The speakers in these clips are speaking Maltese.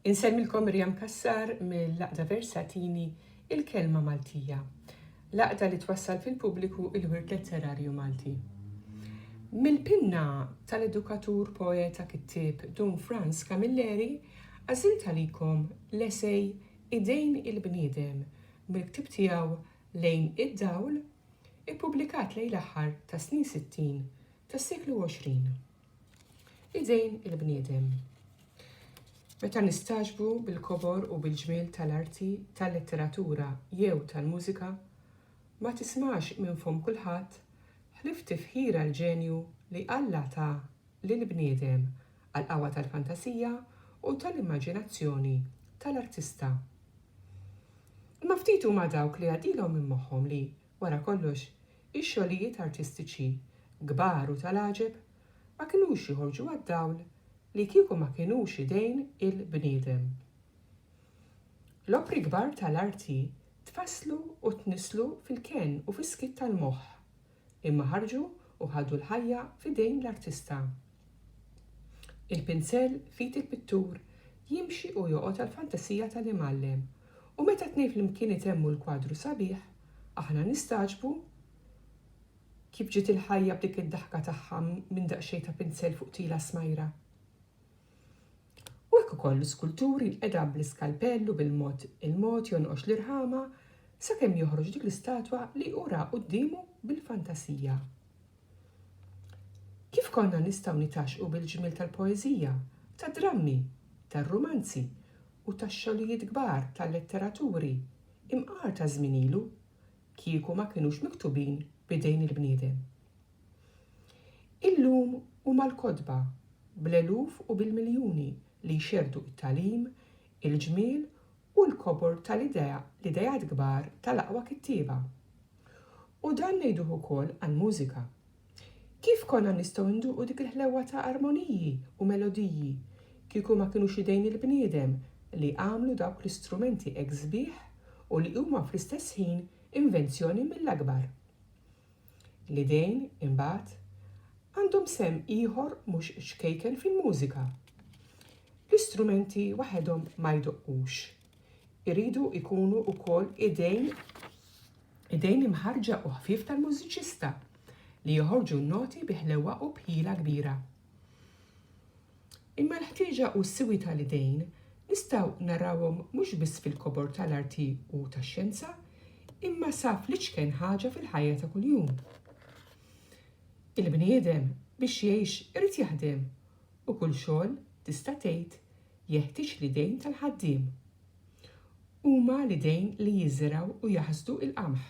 Insemmilkom Miriam Cassar mill-Għaqda Versatini, il-kelma Maltija, l-għaqda li twassal fil-pubbliku il-wirt letterarju Malti. Mill-pinna tal-edukatur poeta kittieb Dun Franz Camilleri għażilt għalikom l-esej Idejn il-bniedem mill-ktieb tiegħu Lejn id-dawl, ippubblikat lejn l-aħħar tas-snin sittin tas-seklu għoxrin. Idejn il-bniedem. Meta nistagħġbu bil-kobor u bil-ġmiel tal-arti, tal-letteratura jew tal-mużika, ma tismax minn fomm kulħadd ħlief tifħira l-ġenju li Alla ta lill-bniedem għall-qawwa tal-fantasija u tal-immaġinazzjoni tal-artista. Imma ftit huma dawk li jgħaddilhom minn moħħhom li, Wara kollox, ix-xogħlijiet artistiċi kbar u tal-għaġeb ma kinux joħorġu għad-dawl li kieku ma kinux idejn il-bniedem. L-opri kbar tal-arti tfasslu u tnisslu fil-kenn u fis-skiet tal-moħħ, imma ħarġu u ħadu l-ħajja f'idejn l-artista. Il-pinsell f'id il-pittur jimxi u joqgħod għall-fantasija tal-imgħallem u meta t-tnejn flimkien itemmu l-kwadru sabiħ, aħna nistagħġbu kif ġiet il-ħajja b'dik id-daħka tagħha minn daqsxejn ta' pinsell fuq tila smajra. U hekk ukoll l-iskultur jinqeda' bl-iskalpell u bil-mod il-mod jonqox l-irħama sakemm joħroġ dik l-istatwa li hu ra quddiemu bil-fantasija. Kif konna nistgħu nitgħaxxqu bil-ġmiel tal-poeżija, tad-drammi, tar-rumanzi u tax-xogħlijiet kbar tal-letteraturi imqar ta' żmien ilu, kieku ma kinux miktubin b'idejn il-bniedem? Illum huma l-kotba, bl-eluf u bil-miljuni li jxerrdu t-tagħlim, il-ġmiel u l-kobor tal-ideat kbar tal-aqwa kittieba. U dan ngħiduh ukoll għall-mużika. Kif konna nistgħu nduqu dik il-ħlewwa ta' armoniji u melodiji kieku ma kinux idejn il-bniedem li għamlu dawk l-istrumenti hekk sbieħ u li huma fl-istess ħin invenzjoni mill-akbar? L-idejn, imbagħad, għandhom sehem ieħor mhux ċkejken fil-mużika. L-istrumenti waħedhom ma jdoqqux. iridu jkunu wkoll idejn idejn imħarġa u ħfief tal-mużiċista li joħorġu n-noti bi ħlewwa u bħila kbira. Imma l-ħtieġa u s-siwi tal-idejn nistgħu narawhom mhux biss fil-kobor tal-arti u tax-xjenza, imma sa fl-iċken ħaġa fil-ħajja ta' kuljum. Il-bniedem biex jgħix irid jaħdem U kull xogħol, tista' tgħid, jeħtieġ l-idejn tal-ħaddiem. Huma l-idejn li jiżrgħu u jaħsdu il-qamħ.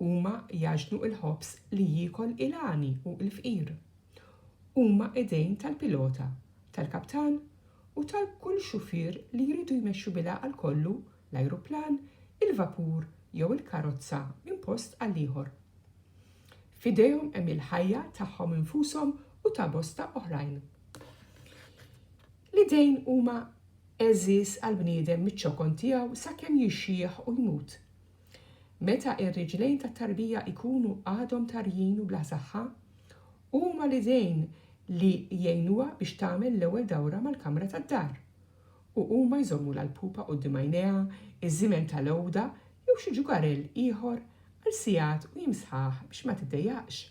Huma jgħaġnu il-ħobż li jiekol il-għani u il-fqir. Huma idejn tal-pilota, tal-kaptan u tal-kull xufier li jridu jmexxu bilgħaqal kollu l-ajruplan, il-vapur jew il-karozza minn post għal ieħor. F'idejhom hemm il-ħajja tagħhom infushom u ta' bosta oħrajn. L-idejn huma għeżież għall-bniedem miċ-ċokon tiegħu sakemm jixjieħ u jmut. Meta r-riġlejn tat-tarbija jkunu għadhom tarjin u bla saħħa, huma l-idejn li jgħinuha biex tagħmel l-ewwel dawra mal-kamra tad-dar u huma jżommulha l-pupa quddiem għajnejha, iż-żimen ta' l-għoda jew xi ġugarell ieħor għal sigħat u jimsħah biex ma tiddejjaqx.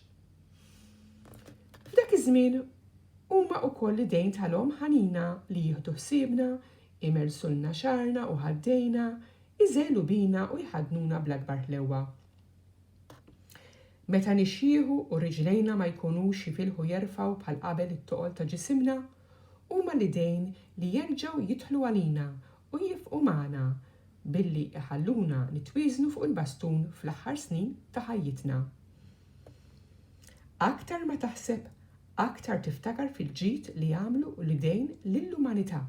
F'dak iż-żmien huma wkoll l-idejn ta' l-omm ħanina li jieħdu ħsiebna, imellsulna xagħarna u ħaddejna, iżegħlu bina u jħaddnuna bl-akbar ħlewwa. Meta nixjieħu u riġlejna ma jkunux jifilħu jerfgħu bħal qabel it-toqol ta' ġisimna, Huma l-idejn li jerġgħu jidħlu għalina u jifqu magħna billi jħalluna nitwieżnu fuq il-bastun fl-aħħar snin ta' ħajjitna. Aktar ma taħseb, aktar tiftakar fil-ġid li għamlu l-idejn lill-umanità.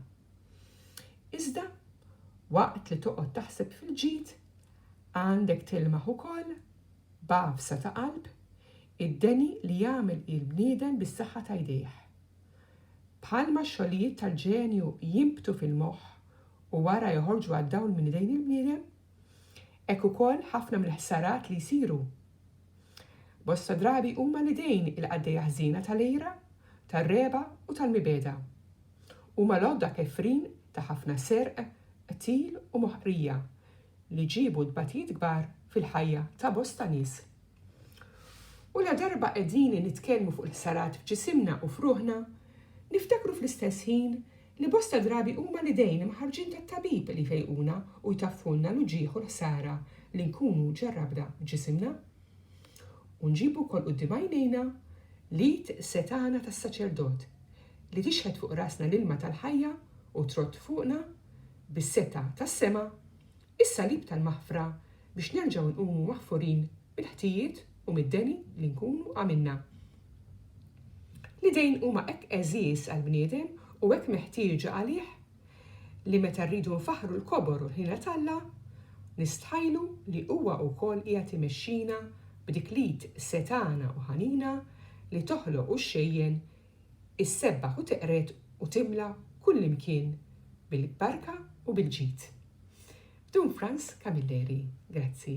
Iżda, waqt li toqgħod taħseb fil-ġid, għandek tilmaħ ukoll, b'għafsa ta' qalb, id-deni li jagħmel il-bniedem bis-saħħa ta' jdejh. Bħalma x-xogħlijiet tal-ġenju jinbtu fil-moħħ u wara joħorġu għad-dawl minn idejn il-bniedem, hekk ukoll ħafna mill-ħsarat li jsiru. Bosta drabi huma l-idejn il-qaddejja ħżiena tal-għira, tar-regħba u tal-mibegħda. Huma l-għodda kefrin ta' ħafna serq, qtil u moħqrija li ġiebu tbatijiet kbar fil-ħajja ta' bosta nies. U ladarba qegħdini nitkellmu fuq il-ħsarat f'ġisimna u f'ruħna, niftakru fl-istess ħin li bosta drabi huma l-idejn imħarrġin tat-tabib li jfejquna u jtaffulna l-uġigħ u l-ħsara li nkunu ġarrabna f'ġisimna. U nġibu wkoll quddiem għajnejna l-id setgħana tas-saċerdot li tixħet fuq rasna l-ilma tal-ħajja u trodd fuqna bis-setgħa tas-sema is-Salib tal-maħfra biex nerġgħu nqumu maħfurin mill-ħtijiet u mid-deni li nkunu għamilna. L-idejn huma hekk għeżież għall-bniedem u hekk meħtieġa għalih li meta rridu nfaħħru l-kobor u l-ħniena t'Alla, nistħajlu li huwa wkoll qiegħed imexxina b'dik l-id setgħana u ħanina li toħloq u xxejjen issebbaħ u teqred u timla kullimkien bil-barka u bil-ġid. Dun Franz Camilleri, grazzi.